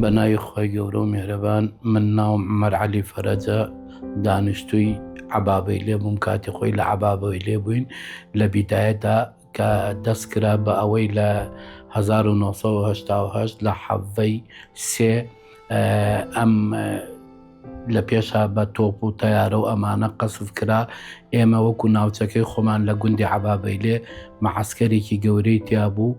بە ناوی خوای گەورە و میهرەبان من ناوم عومەر عەلی فەرەجە دانیشتووی عەبابەی لێ بووم کاتی خۆی لە عەبابەوەی لێ بووین لە بیدایەتدا کە دەست کرا بە ئەوەی لە 1970 لە حەڤەی سێ ئەم لە پێشا بە تۆپ و تەیارە و ئەمانە قەسف کرا ئێمە وەکو ناوچەکەی خۆمان لە گوندی عەبابەی لێ مەعسکەرێکی گەورەی تیا بوو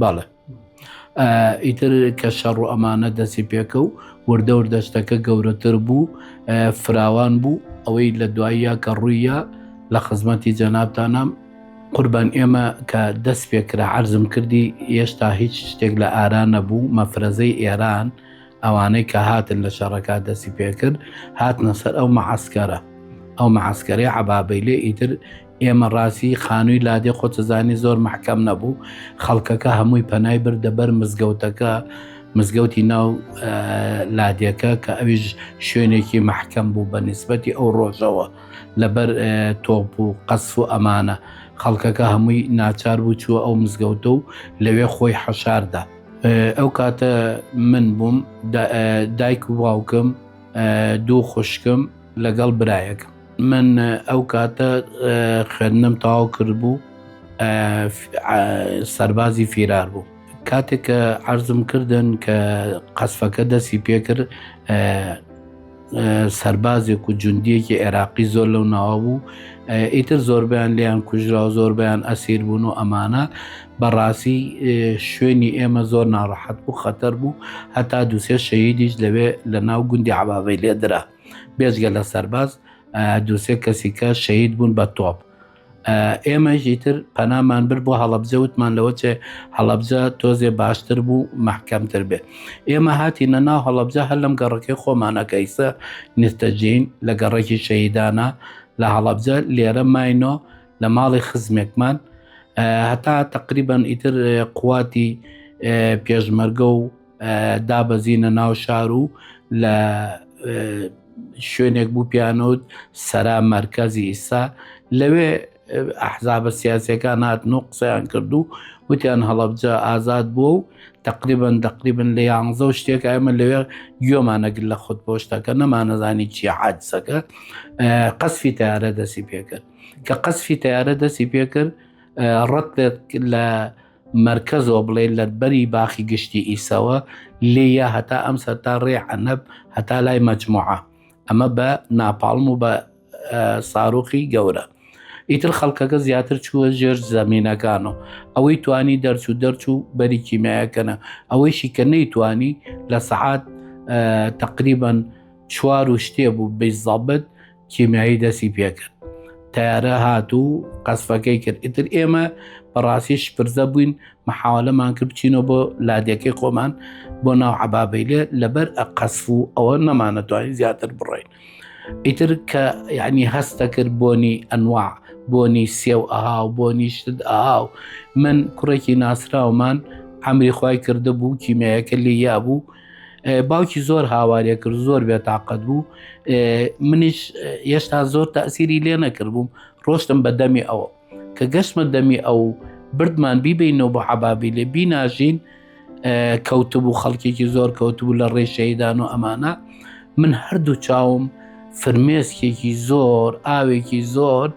بەڵێ ئیتر کە شەڕ و ئەمانە دەستی پێکە و وردەور دەشتەکە گەورەتر بوو فراوان بوو ئەوەی لە دواییە کە ڕوویە لە خزمەتی جەنابتانام قوربان ئێمە کە دەست پێکرا عرضم کردی هێشتا هیچ شتێک لە ئارا نەبوو مەفرەزەی ئێران ئەوانەی کە هاتن لە شەڕەکە دەستی پێکرد هاتنە سەر ئەو مەعسکەرە ئەو مەعسکەری عبابەی لێ ئیتر ئێمە ڕاستی خانووی لادێ خۆتزانی زۆر محکەم نەبوو خەڵکەکە هەمووی پەنای بردە بەر مزگەوتەکە مزگەوتی ناو لادێکە کە ئەویش شوێنێکی محکەم بوو بە نسبەتی ئەو ڕۆژەوە لەبەر تۆپ و قەس و ئەمانە خەڵکەکە هەمووی ناچار بوو چووە ئەو مزگەوتە و لەوێ خۆی حەشاردا ئەو کاتە من بووم دایک و باوکم دوو خوشکم لەگەڵ برایەک من ئەو کاتە خوێندنم تەواو کرد بوو سەربازی فیرار بوو کاتێک کە عرضم کردن کە قەسفەکە دەستی پێکرد سربازێک و جوندیەکی عێراقی زۆر لەو ناوە بوو ئیتر زۆربیان لیان کوژرا و زۆربیان ئەسیر بوون و ئەمانە بەڕاستی شوێنی ئێمە زۆر ناڕەحەت بوو خەتەر بوو هەتا دووسێ شەیدیش لەوێ لە ناو گوندی عباابەی لێدرا بێژگە لە سەرباز دووسێ کەسیکە شەید بوون بە تۆپ ئێمەژی تر پەنامان بر بۆ هەڵبجە وتمان لەوە چێ هەڵبجە تۆزێ باشتر بوو محکەمتر بێ ئێمە هاتی نەنا هەڵبجە هەر لەم گەڕەکەی خۆمانەکەیسە نستەجین لە گەڕێکی شەیدانە لە هەڵبجە لێرە ماینۆ لە ماڵی خزمێکمان هەتا تقریبان ئیتر قواتی پێشمەرگە و دابەزینە ناو شار و لە شوێنێک بوو پیانوت سەرا مەرکزی ئیسا لەوێ ئەحزابە سیاسەکان هاتن و قسەیان کرد و وتیان هەڵبجە ئازاد بووە و تقریبن دەقریبن لە یانزە و شتێک ئەمە لەوێ گوێمانەگر لە خودپۆشتەکە نەمانەزانی چی حادسەکە قەسفی تارە دەسی پێکرد کە قەسفی تەیارە دەستی پێکرد ڕەتێت لە مەرکەزەوە بڵێ لە بەری باخی گشتی ئیسەوە لێە هەتا ئەم سەر تا ڕێ عەنەب هەتا لای مەجموعە ئەمە بە ناپاڵم و بە ساروخی گەورە ئیتر خەڵکەکە زیاتر چووە ژێر زەمینەکان و ئەوەی توانی دەرچوو دەرچوو بەری کیمایەکەنە ئەوەیشی کە نەیتوانی لە سەعات تقریبان چوار و شتێ بوو بزەبت کیمیایی دەستی پێکرد تارە هات و قەسفەکەی کرد ئیتر ئێمە بەڕاستی شپرزە بووین مححاولەمان کرد بچینەوە بۆ لادەکەی خۆمان بۆ ناو عبابەیلێ لەبەر ئە قەسف و ئەوە نەمانە توانین زیاتر بڕین ئیتر کە یعنی هەستە کرد بۆنی ئەنوا بۆنی سێو ئەها و بۆ نیشتت ئاها و من کوڕێکی ناسراومان ئەمری خی کردە بوو کیمەیەکە لێ یا بوو باوکی زۆر هاوارێ کرد زۆر بێتاقەت بوو منیش هێشتا زۆر تاسیری لێ نەکرد بووم ڕۆشتم بە دەمی ئەوە کە گەشتمە دەمی ئەو بردمان بیبینەوە بۆ عبابی لێ بیناژین کەوتبوو خەڵکێکی زۆر کەوتبوو لە ڕێشەیدان و ئەمانە من هەردوو چاوم فرمێسکێکی زۆر ئاوێکی زۆر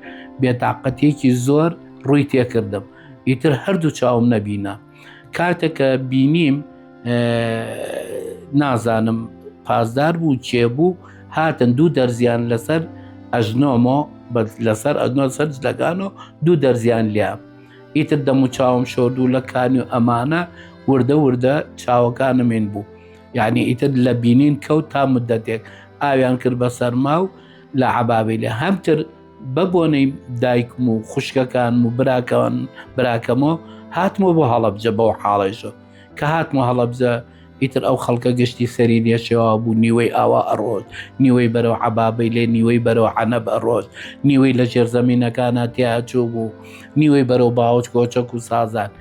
بێتاقەتێکی زۆر ڕووی تێکردم ئیتر هەردوو چاوم نەبینە کاتێک کە بینیم نازانم پازدار بوو چێ بوو هاتن دوو دەرزیان لەسەر ئەژنۆمۆ لەسەر ئەدنۆ سەر جلەکان و دوو دەرزیان لیا ئیتر دەم و چاوم شۆردوو لە کانی و ئەمانە وردە وردە چاوەکانمین بوو یعنی ئیتر لە بینین کەوت تا مدەتێک ئاویان کرد بە سەرما و لە عبابی لە هەمتر بە بۆنەی دایکم و خوشکەکانم و براکەوان براکەمەوە هاتمەوە بۆ هەڵەبجە بەو حاڵێشە کە هاتمە هەڵەبجە ئیتر ئەو خەڵکە گەشتی سەری نێشێوا بوو نیوەی ئاوا ئەڕۆت نیوەی بەرەو عبابەی لێ نیوەی بەرەو عەنەب ئەڕۆت نیوەی لە ژێرزەمینەکانە تیاچوو بوو نیوەی بەرەو باوەچ کۆچەک و سازان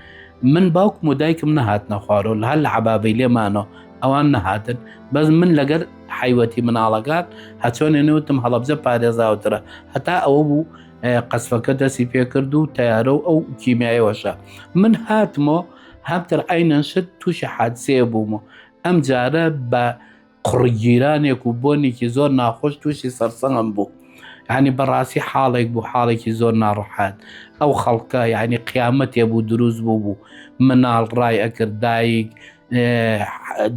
من باوکم و دایکم نەهاتنە خوارەوە هەر لە عبابەی لێمانەوە ئەوان نەهاتن بەس من لەگەر حیوەتی مناڵەکان هەچۆنێ نەوتم هەڵەبجە پارێزاوترە هەتا ئەوە بوو قەسفەکە دەسی پێکرد و تەیارە و ئەو کیمیایەوەشە من هاتمۆ هەمتر ئەینەن شت تووشی حادسەیە بوومە ئەم جارە بە قڕگیرانێک و بۆنێکی زۆر ناخۆش تووشی سەرسەنگم بوو ینی بەڕاستی حاڵێک بوو حاڵێکی زۆر ناڕحات ئەو خەڵکە یعنی قیامەتێ بوو دروست بوو بوو مناڵ ڕای ئەکرد دایک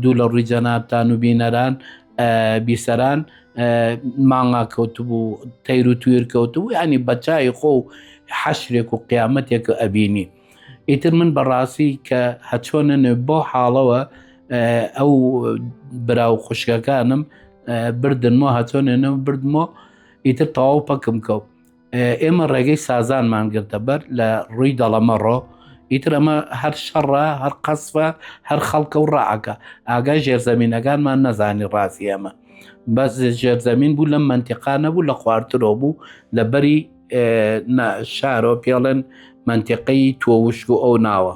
دوو لە ڕووی جەنابتان و بینەران بیسەران مانگا کەوتبوو تەیر و توێر کەوتبوو ینی بەچای خۆ و حەشرێک و قیامەتێک ئەبینی ئیتر من بەڕاستی کە هەچۆنە نوێ بۆ حاڵەوە ئەو برا و خوشکەکانم بردنمەوە هەچۆنێنە بردمەوە ئیتر تەواو پەکم کەوت ئێمە ڕێگەی سازانمان گرتە بەر لە ڕووی دەڵەمەڕۆ ئیتر ئەمە هەر شەڕە هەر قەسفە هەر خەڵکە و ڕعەکە ئاگای ژێرزەمینەکانمان نەزانی ڕاستی ئەمە بەس ژێرزەمین بوو لەم منتیقا نەبوو لە خوارترۆ بوو لە بەری شارۆ پێڵێن منتیقەی تۆوشک و ئەو ناوە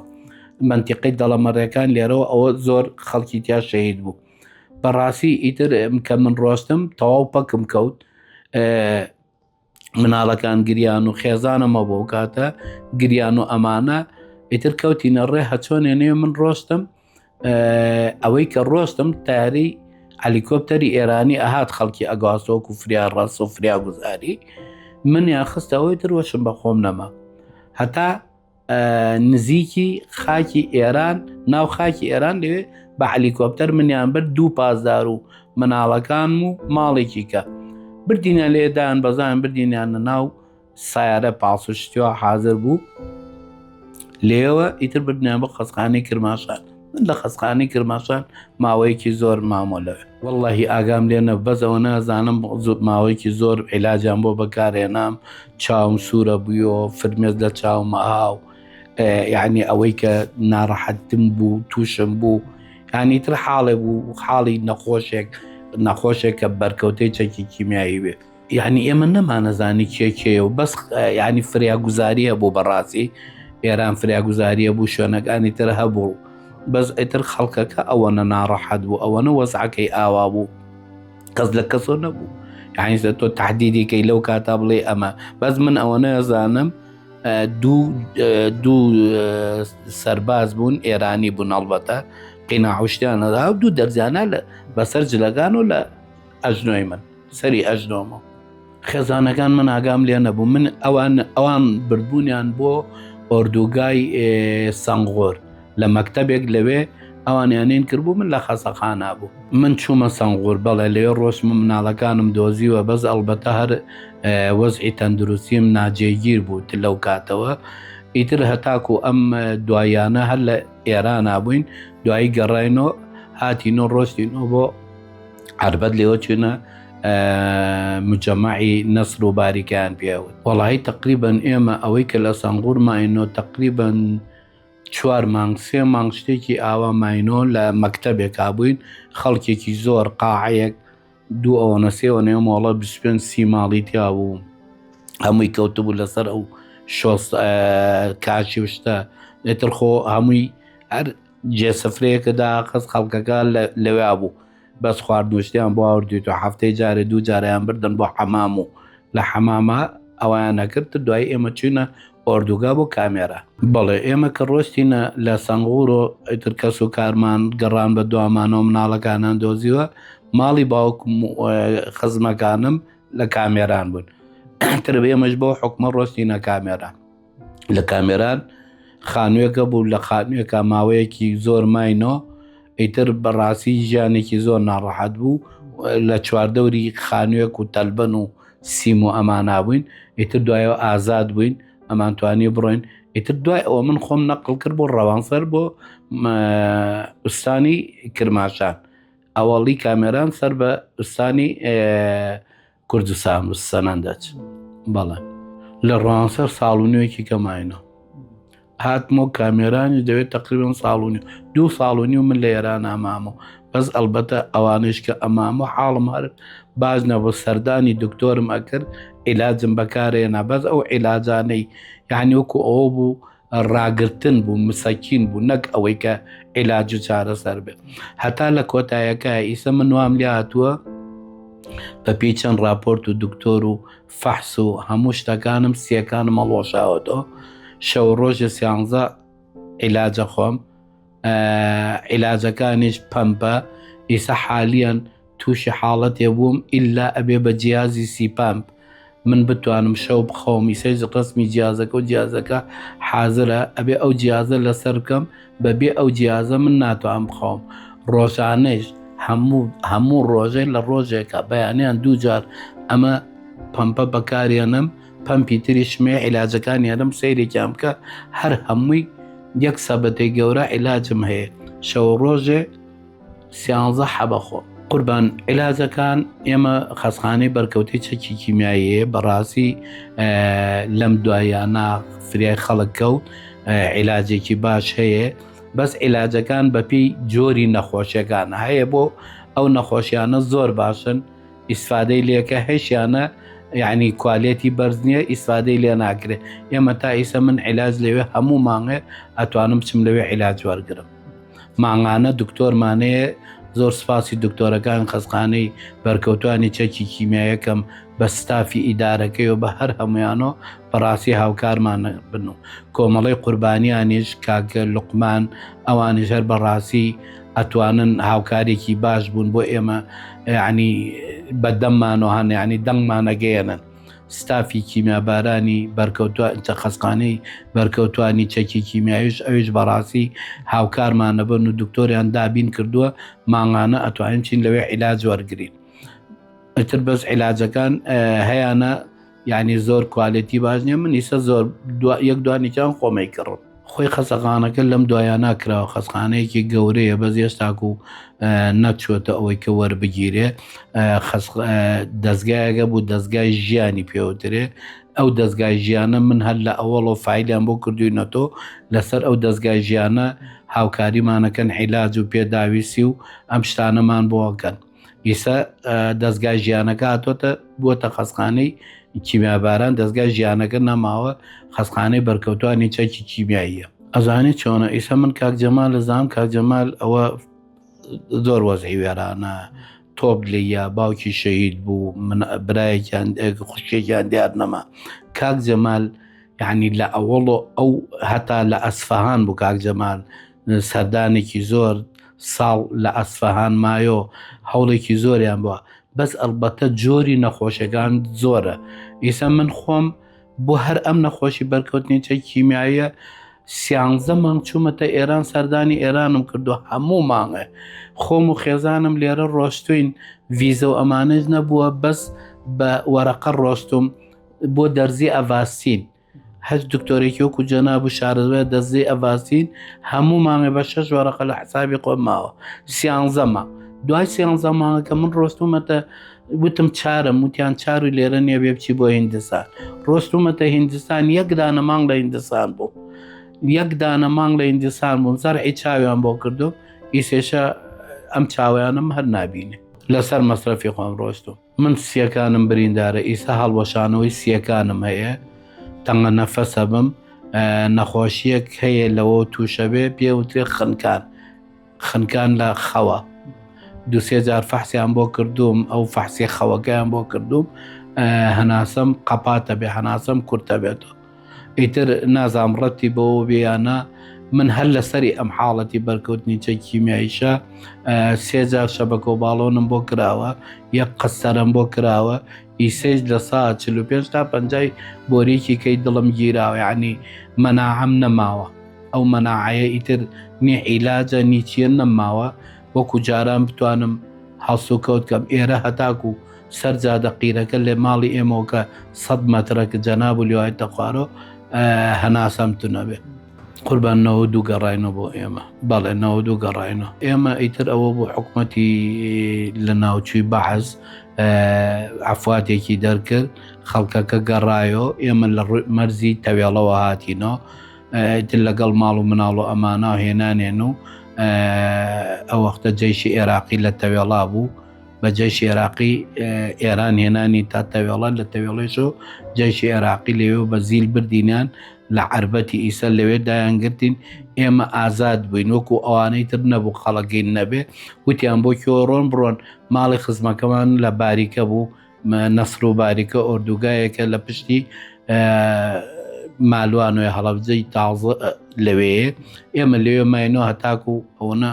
منتیقی دەڵەمەڕێکان لێرەوە ئەوە زۆر خەڵکی تیا شەهید بوو بەڕاستی ئیتر کە من ڕۆستم تەواو پەکم کەوت مناڵەکان گریان و خێزانەمە بۆ کاتە گریان و ئەمانە ئیتر کەوتینە ڕێ هەچۆنێ نێ من ڕۆستم ئەوەی کە ڕۆستم تاری ئەلیکۆپتەری ئێرانی ئەهات خەڵکی ئەگاسۆک و فریا ڕاس و فریا گوزاری منیان خستەوەی تروەشم بە خۆم نەما هەتا نزیکی خاکی ئێران ناو خاکی ئێران لەوێ بە علیکۆپتەر منیان برد دوو پازدار و مناڵەکان و ماڵێکی کە بردینە لێدان بەزان بردینیانە ناو سیارە پاسشتیوە حاضر بوو لێوە ئیتر بردنیان بۆ خەزخانەی کرماشان من لە خەسخانی کرماشان ماوەیەکی زۆر مامۆلەوێ واللهی ئاگام لێنە بەزەوە نازانم ماوەیەکی زۆر عیلاجان بۆ بەکارێنام چاوم سوورە بووە فرمێز لە چاومە هاو یعنی ئەوەی کە ناڕەحەتم بوو تووشم بوو ینی تر حاڵێ بوو حاڵی نەخۆشێک نەخۆشێک کە بەرکەوتەی چەکی کیمیایی بێت یعنی ئێمە نەمانەزانی کێ کێە و بەس ینی فریاگوزاریە بۆ بەڕاستی ئێران فریاگوزاریە بوو شوێنەکانی تر هەبوو بەس ئەتر خەڵکەکە ئەوەنە ناڕەحەت بوو ئەوەنە وەزعەکەی ئاوا بوو کەس لە کەسۆ نەبوو یعنیزە تۆ تهدیدێکی لەو کاتا بڵێ ئەمە بەس من ئەوە نەزانم دوو دوو سەرباز بوون ئێرانی بوون هەڵبەتە قیناعشتیانەدا دوو دەرزیانە لە بەسەر جلەکان و لە ئەزنۆی من سەری ئەزنۆمە خێزانەکان من ئاگام لێ نەبوو من ئەوان ئەوان بردبوونیان بۆ ئۆردوگای سەنگۆر لە مەکتتەبێک لەوێ ئەوانیانین کردبوو من لە خەسەخانە بوو من چوومە سەنگۆر بەڵێ لێ ڕۆشم مناڵەکانم دۆزیوە بەس ئەڵبەتە هەر وەزعی تەندروستیم ناجێگیر بوو لەو کاتەوە ئیتر هەتاکو ئەم دوایانە هەر لە ئێرانە بووین دوایی گەڕینۆ هاتینۆ ڕۆشتینۆ بۆ عربەت لێوە چونە مجەماعی نەسر و باریکیان پێوت وڵی تقریبن ئێمە ئەوەی کە لە سەنگور ماینۆ تقریبن چوار مانگ سێ مانگ شتێکی ئاوا ماینۆ لە مەکتتەبێکا بووین خەڵکێکی زۆر قاعەیەک دوو ئەوەنە سێوە نێو مۆڵە 25 سی ماڵی تیا بوو هەمووی کەوتبوو لەسەر ئەو شۆست کاشی شتە لێتر خۆ هەمووی هەر جێ سفرەیەکە داخست خەڵکەکە لەوێا بوو بەس خوارد نوشتیان بۆ ئاوردیتو هەفتەی جارێ دوو جارەیان بردن بۆ حەمام و لە حەماما ئەویان ئەکرد دوای ئێمە چوینە ئۆردوگا بۆ کامێرا. بەڵێ ئێمە کە ڕۆشتینە لە سەنغورۆ ئیتر کەس و کارمان گەڕان بە دوامانەوە مناڵەکانان دۆزیوە ماڵی باوکم و خزمەکانم لە کامێران بوون ئیتر ئێمەش بەو حوکمە ڕۆشتینە کامێرا. لە کامێران خانوێکە بوو لە خانوێکە ماوەیەکی زۆر ماینۆ ئیتر بەڕاستی ژیانێکی زۆر ناڕەحەت بوو لە چواردەوری خانوێک و تەلبەن و سیم و ئەمانا بووین ئیتر دوایەوە ئازاد بووین ئەمان توانی بڕۆین ئیتر دوای ئەوە من خۆم نەقل کرد بۆ ڕەوانسەر بۆ ئوستانی کرماشان ئەوەڵی کامێران سەر بە ئوستانی کوردستان و سەنەندەج بەڵێ لە ڕانسەر ساڵ و نوێکی کەماینە هاتمۆ کامێرانی دەوێت تقریبم ساڵونی دوو ساڵ و نیو من لە ئێران ئامامە بەس ئەلبەتە ئەوانش کە ئەمام و حاڵم هەر باز نەبوو سەردانی دکتۆرم ئەکرد عیلاجم بەکارێنا بەس ئەو عیلاجانەی یعنی وەکو ئەوە بوو ڕاگرتن بوو مسەکین بوو نەک ئەوەی کە عێلاج و چارەسەر بێت هەتا لە کۆتایەکە ئیسە من وام لێ هاتووە بە پێی چەند راپۆرت و دکتۆر و فەحس و هەموو شتەکانم سیەکانم هەڵۆشاوەەوە شەو ڕۆژە سیانزە عیلاجە خۆم عیلاجەکانیش پەمپە ئیسە حالیان تووشی حاڵەتێ بووم ئللا ئەبێ بە جیازی سیپامپ من بتوانم شەو بخەوم ئیسەیز ڕسمی جیازەکە و جیازەکە حازرە ئەبێ ئەو جیازە لەسەر بکەم بەبێ ئەو جیازە من ناتوانم بخەوم ڕۆژانەیش هەموو هەموو ڕۆژێ لە ڕۆژێکە بەیانیان دووجار ئەمە پەمپە بەکارێنم پەمپی تریش مێ عیلاجەکان یارم سەیرێکیان بکە هەر هەمووی یەک سەبەتەی گەورە عیلاجم هەیە شەوە ڕۆژێ سیانزە حەبەخۆ قوربان عیلاجەکان ئێمە خەسخانەی بەرکەوتی چەکی کیمیاییە بەڕاستی لەم دوایانە فریای خەڵک کەوت عیلاجێکی باش هەیە بەس عیلاجەکان بەپی جۆری نەخۆشیەکان هەیە بۆ ئەو نەخۆشیانە زۆر باشن ئیسفادەی لێکە هەشیانە یعنی کوالێتی بەرز نییە ئیسفادەی لێ ناکرێت ئێمە تا ئیسە من عیلاج لەوێ هەموو مانگێ ئەتوانم بچم لەوێ عیلاج وەرگرم مانگانە دکتۆرمانەیە زۆر سپاسی دکتۆرەکان خەزخانەی بەرکەوتانی چەکی کیمیایەکەم بە ستافی ئیدارەکەی و بە هەر هەمویانۆ بەڕاستی هاوکارمان بن و کۆمەڵی قوربانیانیش کاگە لقمان ئەوانیش هەر بەڕاستی ئەتوانن هاوکارێکی باش بوون بۆ ئێمە ینی بە دەممانەوە هەن ینی دەنگمانەگەیەنن ستافی کیمیابارانی بەرکەوتوە چە خەسقانەی بەرکەوتانی چەکی کیمیاویش ئەویش بەڕاستی هاوکارمانەبن و دکتۆریان دابین کردووە ماغانە ئەتوانین چین لەوێ عیلاج وەرگین ئەتر بەس عیلاجەکان هەیەە یانی زۆر کوالێتی باش نیە من ئیسە زۆر یەک دوانیان خۆمەی کڕم خۆی خەسەقانەکە لەم دوایە ناکراوە خەسخانەیەکی گەورەیە بەس ئێستاکو و نەچۆتە ئەوەی کە وەربگیرێ دەستگایەکە بوو دەستگای ژیانی پێوترێ ئەو دەستگای ژیانە من هەر لە ئەوەڵۆ فیلیان بۆ کردوینەتۆ لەسەر ئەو دەستگای ژیانە هاوکاریمانەکەن عیلاج و پێداویستی و ئەم شتانەمان بۆکەن ئیسا دەستگا ژیانەکە هاتۆتە بۆ تە خەسخانەی کیمیاباران دەستگا ژیانەکە نەماوە خەسخانەی بەرکەوتانی چەکی کیمیاییە ئەزانانی چۆنە ئیسە من کاک جەمال لە زام کاک جەمال ئەوە زۆر وەزعی وێرانە تۆپ لێە باوکی شەهید بوو من برایەکیان خوشکێکیان دیار نەما کاک جەمال یعنی لە ئەوەڵۆ ئەو هەتا لە ئەسفەهان بوو کاک جەمال سەردانێکی زۆر ساڵ لە ئەسفەهان مایۆ هەوڵێکی زۆریان بووە بەس ئەلبەتە جۆری نەخۆشەکان زۆرە ئیسە من خۆم بۆ هەر ئەم نەخۆشی بەرکەوتنی چە کیمیاییە سیانزە مانگ چوومەتە ئێران سەردانی ئێرانم کردو هەموو مانگە خۆم و خێزانم لێرە ڕۆشتوین ڤیزە و ئەمانەش نەبووە بەس بە وەرەقە ڕۆشتم بۆ دەرزی ئەڤاستین هەچ دکتۆرێکی وەکو جەناب و شارەزای دەزەی ئەڤازین هەموو مانگێ بە شەش وەرەقە لە حسابی خۆم ماوە سیانزە مانگ دوای سیانزە مانگەکە من ڕۆستومەتە وتم چارم وتیان چار و لێرە نییە بێ بچی بۆ هندستان ڕۆستومەتە هندستان یەک دانە مانگ لە هندستان بوو یەک دانە مانگ لە هندستان بووم زەرعی چاویان بۆ کردو ئیسێشە ئەم چاویانم هەر نبینێ لەسەر مەسرەفی خۆم ڕۆستوم من سیەکانم بریندارە ئیسە هەڵوەشانەوەی سیەکانم هەیە تەنگە نەفەسە بم نەخۆشیەک هەیە لەوە تووشەبێ پێوترێ خنکان خنکان لە خەوە دوسێ جار فەحسیان بۆ کردوم ئەو فەحسێ خەوەکەیان بۆ کردوم هەناسم قەپاتە بێ هەناسم کورتە بێتەوە ئیتر نازام ڕەتی بەوە بێیانە من هەر لەسەری ئەم حاڵەتی بەرکەوتنی چەک کیمیاییشە سێجار شەبەکە و باڵۆنم بۆ کراوە یەک قەسەرم بۆ کراوە ئیسەیش لە سا 45 تا پەنجای بۆریکی کەی دڵم گیراوە عنی مەناعەم نەماوە ئەو مەناعەیە ئیتر نی عیلاجە نیچیە نەماوە وەکو جاران بتوانم هەڵسوکەوت کەم ئێرە هەتاکو سەر جادە قیرەکە لێ ماڵی ئێمەوە کە سەد مەترە کە جەناب و لێوای تەخوارۆ هەناسەم تو نەبێ قوربان نەوە دوو گەڕینە بۆ ئێمە بەڵێ نەوە دوو گەڕینە ئێمە ئیتر ئەوە بۆ حکوومەتی لە ناوچووی بەحز ئەفاتێکی دەرکرد خەڵکەکە گەڕایۆ ئێمە لە ڕووی مەرزی تەوێڵەوە هاتینەوە ئیتر لەگەڵ ماڵ و مناڵ و ئەمانە هێنانێن و ئەوەختە جێشی عێراقی لە تەوێڵا بوو بە جەیشی عێراقی ئێران هێنانی تا تەوێڵە لە تەوێڵێش و جەیشی عێراقی لەوێ و بە زیل بردینیان لە عربەتی ئیسە لەوێ دایانگرتین ئێمە ئازاد بووین وەکو ئەوانەی تر نەبوو خەڵەگەین نەبێ وتیان بۆ کۆڕۆن بڕۆن ماڵی خزمەکەمان لە باریکە بوو نەسر و باریکە ئۆردوگایەکە لە پشتی مالوانێ هەڵەبجەی تازە لەوێ ئێمە لەوێ ماینۆ هەتاکو ئەوەنە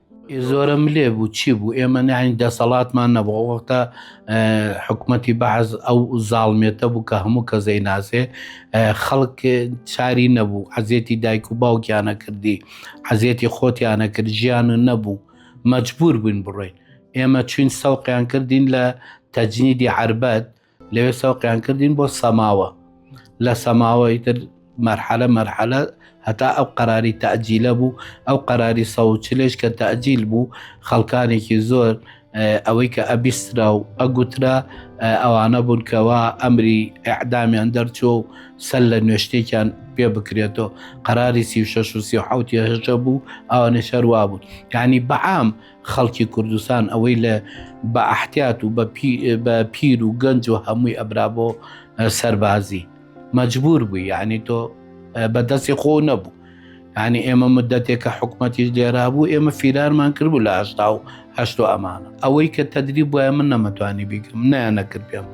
زۆرە ملێ بوو چی بوو ئێمە ناین دەسەڵاتمان نەبوو وەختە حکوومەتتی بەعز ئەو زاڵمێتە بوو کە هەموو کە زەی ناسێ خەڵک چاری نەبوو عزیێتی دایک و باوکیانە کردی عزیێتی خۆتیانە کرد ژیان و نەبوو مەجبور بووین بڕۆین ئێمە چوین سەوقیان کردین لە تەجنیدی عربەت لەوێ سەوقیان کردین بۆ سەماوە لە سەماوە ئیتر مەرحەلە مەرحەلە هەتا ئەو قەراری تەجیلە بوو ئەو قەراری سەوچلێش کە تەجیل بوو خەڵکانێکی زۆر ئەوەی کە ئەبیسترا و ئەگوترا ئەوانە بوون کەەوە ئەمری ئەعدامیان دەرچوو و سەر لە نوێشتێکیان پێ بکرێتەوە قەراری سی و شش و سی حوتیهژە بوو ئەوانە شەروا بوون یعنی بەعام خەڵکی کوردستان ئەوەی لە بە ئەحتیات و بە پیر و گەنج و هەمووی ئەبرا بۆ سەربازی مەجبور بوو یعنی تۆ بەدەستی خۆ نەبوو ینی ئێمە مدەتێکە حکوومەتیش لێرا بوو ئێمە فیرارمان کرد بوو لە هشتا و هەشت و ئەمانە ئەوەی کە تەدری بواە من نەمەتوانی بیکەم نیانەکرد پێم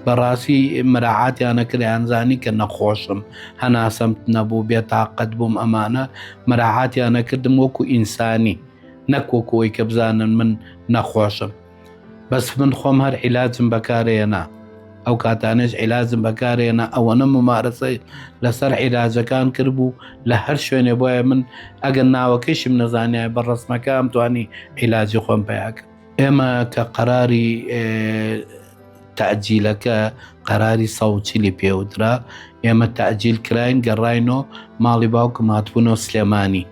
بەڕاستی مراعاتیانەکرد ئەنزانی کە نەخۆشم هەناسەمت نەبوو بێتاقەت بووم ئەمانە مراعاتیانەکردم وەکو ئینسانی نەک وەکو ئەوەی کە بزانن من نەخۆشم بەس من خۆم هەر عیلاجم بەکارێنا ئەو کاتانێش عیلاجم بەکارێنا ئەوەنە ممارەسەی لەسەر عیلاجەکان کرد بوو لە هەر شوێنێ بۆیە من ئەگەر ناوەکەشم نەزانای بە ڕسمەکەم توانی عیلاجی خۆم پیاکە ئێمە کە قەراری تەعجیلەکە قەراری سەوچلی پێودرا ئێمە تەعجیل کراین گەڕینۆ ماڵی باوکم هاتبوونۆ سلێمانی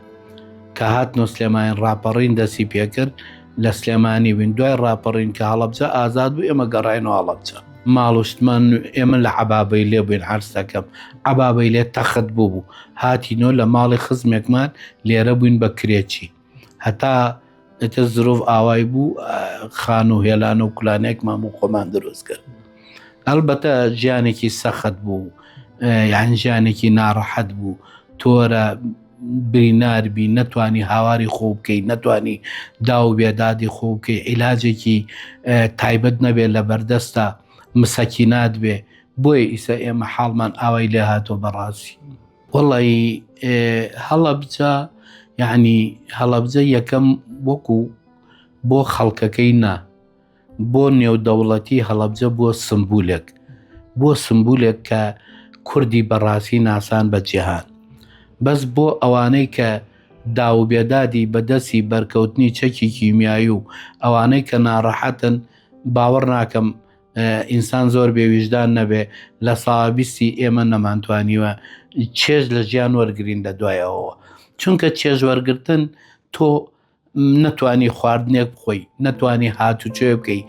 کە هات نۆ سلێمانی ڕاپەڕین دەسی پێکرد لە سلێمانی بین دوای ڕاپەڕین کە هەڵبجە ئازاد بوو ئێمە گەڕین و هەڵبچە ماڵشتمان ئێمە لە عبابەی لێ بووین عرسەکەم عبابەی لێ تەخت بوو بوو هاتی نۆ لە ماڵی خزمێکمان لێرە بووین بە کرێچی هەتا ئیتر زرۆڤ ئاوای بوو خان و هێلان و کولانێکمان بوو خۆمان دروست کرد هەڵبەتە ژیانێکی سەخت بوو یان ژیانێکی ناڕەحەت بوو تۆرە بریناربی نەتوانی هاواری خۆ بکەی نەتوانی داو بێدادی خۆ بکەی عیلاجێکی تایبەت نەبێت لە بەردەستە مسەکینات بێ بۆیە ئیسە ئێمە حاڵمان ئاوای لێ هاتۆ بەڕاستی وەڵایی هەڵەبجە یعنی هەڵەبجە یەکەم وەکو بۆ خەڵکەکەی نا بۆ نێودەوڵەتی هەڵەبجە بووە سمبولێک بۆ سمبولێک کە کوردی بەڕاستی ناسان بە جیهان بەس بۆ ئەوانەی کە داوبێدادی بەدەستی بەرکەوتنی چەکی کیمیایی و ئەوانەی کە ناڕەحەتن باوەڕ ناکەم ئینسان زۆر بێ ویژدان نەبێ لە ساڵ بیستی ئێمە نەمانتوانیوە چێژ لە ژیان وەرگین لە دوایەوە چونکە چێژ وەرگتن تۆ نەتوانی خواردنێک بخۆی نەتوانی هاتوچێ بکەی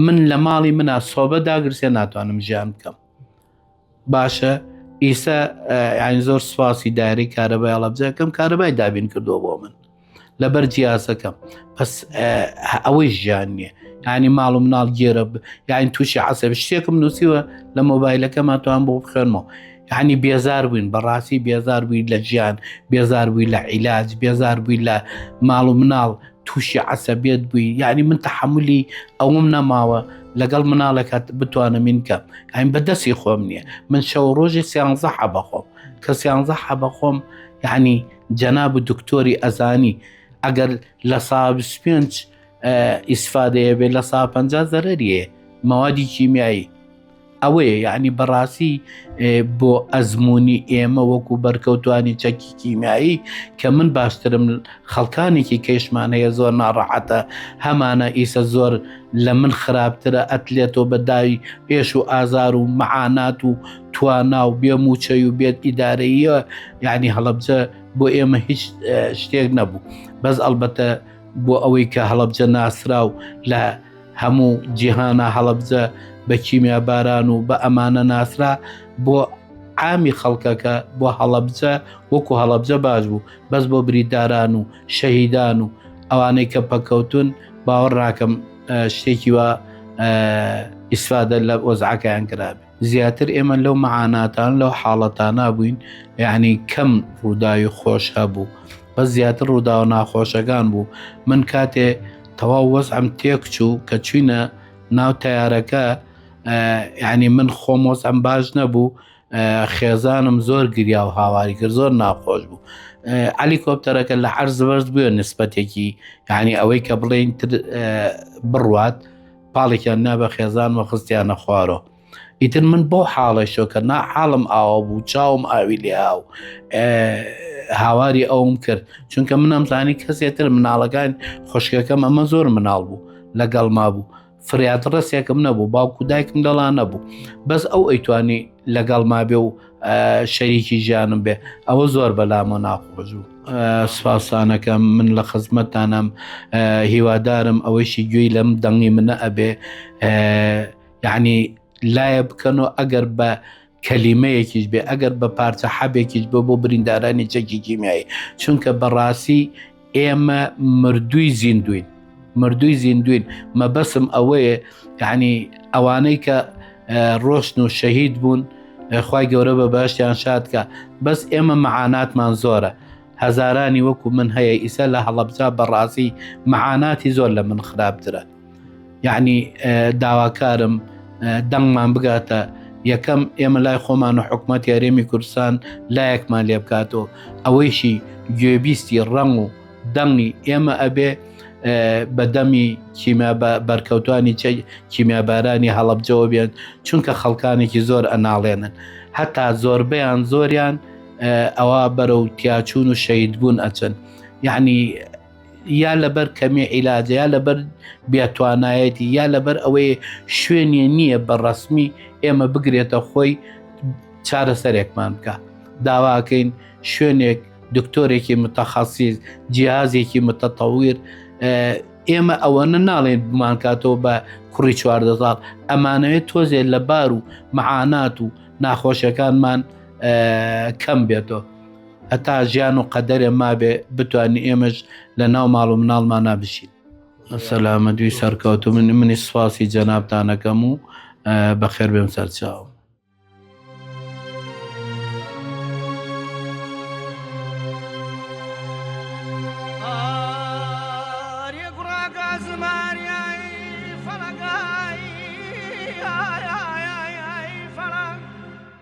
من لە ماڵی منە سۆبە داگرسێ ناتوانم ژیان بکەم باشە ئیسا یعنی زۆر سوپاسی دایری کارەبای هەڵەبجەکەم کارەبای دابین کردو بۆ من لەبەر جیاسەکەم پس ئەوەی ژیان نییە ینی ماڵ و مناڵ گێرە یاین تووشی عسب شتێکم نووسیوە لە مۆبایلەکەمان توان بۆ بخێنمەوە یعنی بێزار بووین بەڕاستی بێزار بووی لە ژیان بێزار بووی لە عیلاج بێزار بووی لە ماڵ و مناڵ تووشی عسەبێت بووی یعنی من تحملی ئەوم نەماوە لەگەڵ مناڵێکات بتوانم من کەم ئەین بەدەستی خۆم نییە من شەو ڕۆژی سیانزە حەبەخۆم کە سیانزە حەبەخۆم یعنی جەناب و دکتۆری ئەزانی ئەگەر لە سا پێنج ئیسفادەیە بێت لە سا پ زەرریە مەوادی کیمیایی ئەوەیە یعنی بەڕاستی بۆ ئەزمموی ئێمە وەکو بەرکەوتانی چەکی کیمیایی کە من باشترم خەڵکانێکی کەیشمان هەیە زۆر ناڕەحەتە هەمانە ئیسە زۆر لە من خراپترە ئەتلێتۆ بەداوی پێش و ئازار و مەعانات و توانا و بێ موچەی و بێت ئیدارەیە یعنی هەڵبجە بۆ ئێمە هیچ شتێک نەبوو بەس ئەلبەتە بۆ ئەوەی کە هەڵبجە ناسرا و لە هەموو جیهانا هەڵەبجە بە کیمیا باران و بە ئەمانە ناسرا بۆ عامی خەڵکەکە بۆ هەڵەبجە وەکو هەڵەبجە باش بوو بەس بۆ بریداران و شەهیدان و ئەوانەی کە پەکەوتن باوەڕ ناکەم شتێکی وە ئیسفادە لە ئۆزعەکەیان کرابێ زیاتر ئێمە لەو مەعاناتان لەو حاڵەتانە بووین یعنی کەم ڕووداوی خۆش هەبوو بە زیاتر ڕووداوە ناخۆشەکان بوو من کاتێ تەواو وەزعم تێک چوو کە چوینە ناو تیارەکە یعنی من خۆم وەزعم باش نەبوو خێزانم زۆر گریا و هاواری کرد زۆر ناخۆش بوو علی کۆپتەرەکە لە عرز بەرز بووە نسبەتێکی یعنی ئەوەی کە بڵێن بڕوات پاڵێکیان نا بە خێزان و خستیانە خوارۆ ئیتر من بۆ حاڵی شۆکە نا حاڵم ئاوا بوو چاوم ئاوی لێ هاو هاواری ئەوم کرد چونکە منم زانی کەسێتر مناڵەکان خوشکەکەم ئەمە زۆر مناڵ بوو لەگەڵ ما بوو فریاد ڕستێکم نەبوو باوکو دایکم دەڵان نەبوو بەس ئەو ئەیتوانی لەگەڵ ما بێ و شەریکی ژیانم بێ ئەوە زۆر بەلامۆ ناخۆشبوو سوپاسانەکەم من لە خزمەتانم هیوادارم ئەوەیشی گوێی لەم دەنگی منە ئەبێ یعنی لایە بکەن و ئەگەر بە کەلیمەیەکیش بێ ئەگەر بە پارچە حەبێکیش بۆ بۆ بریندارانی چەکی کیمیایی چونکە بەڕاستی ئێمە مردووی زیندوین مردووی زیندوین مەبەسم ئەوەیە یعنی ئەوانەی کە ڕۆشن و شەهید بوون خی گەورە بە باشیان شادکە بەس ئێمە مەعاناتمان زۆرە هەزارانی وەکو من هەیە ئیسە لە هەڵەبزا بەڕاستی مەعاناتی زۆر لە من خراپترە یعنی داواکارم دەنگمان بگاتە یەکەم ئێمە لای خۆمان و حکوومەت یاریێمی کوردستان لایەکمان لێ بکاتەوە ئەوەیشی گوێبیستی ڕەنگ و دەنگی ئێمە ئەبێ بە دەمی کیمیا بەرکەوتانی چ کیمیابارانی هەڵبجەوە بێن چونکە خەڵکانێکی زۆر ئەناڵێنن هەتا زۆربیان زۆریان ئەوە بەرەو تیاچون و شەید بوون ئەچن یعنی یا لەبەر کەمی عیلاجە یا لەبەر بێتوانایەتی یا لەبەر ئەوەی شوێنێ نییە بە ڕسمی ئێمە بگرێتە خۆی چارەسەرێکمان بکە داواکەین شوێنێک دکتۆرێکی متەخەسیز جیازێکی متەتەویر ئێمە ئەوەنە ناڵێن بمانکاتەوە بە کوڕی چواردە ساڵ ئەمانەوێت تۆزێت لە بار و معانات و ناخۆشەکانمان کەم بێتەوە هەتا ژیان و قەدەرێ مابێ بتوانین ئێمەش لە ناو ماڵ و مناڵمانا بژین سەلامە دوی سەرکەوت و من منی سوپاسی جەنابتانەکەم و بەخێر بێم سەرچاو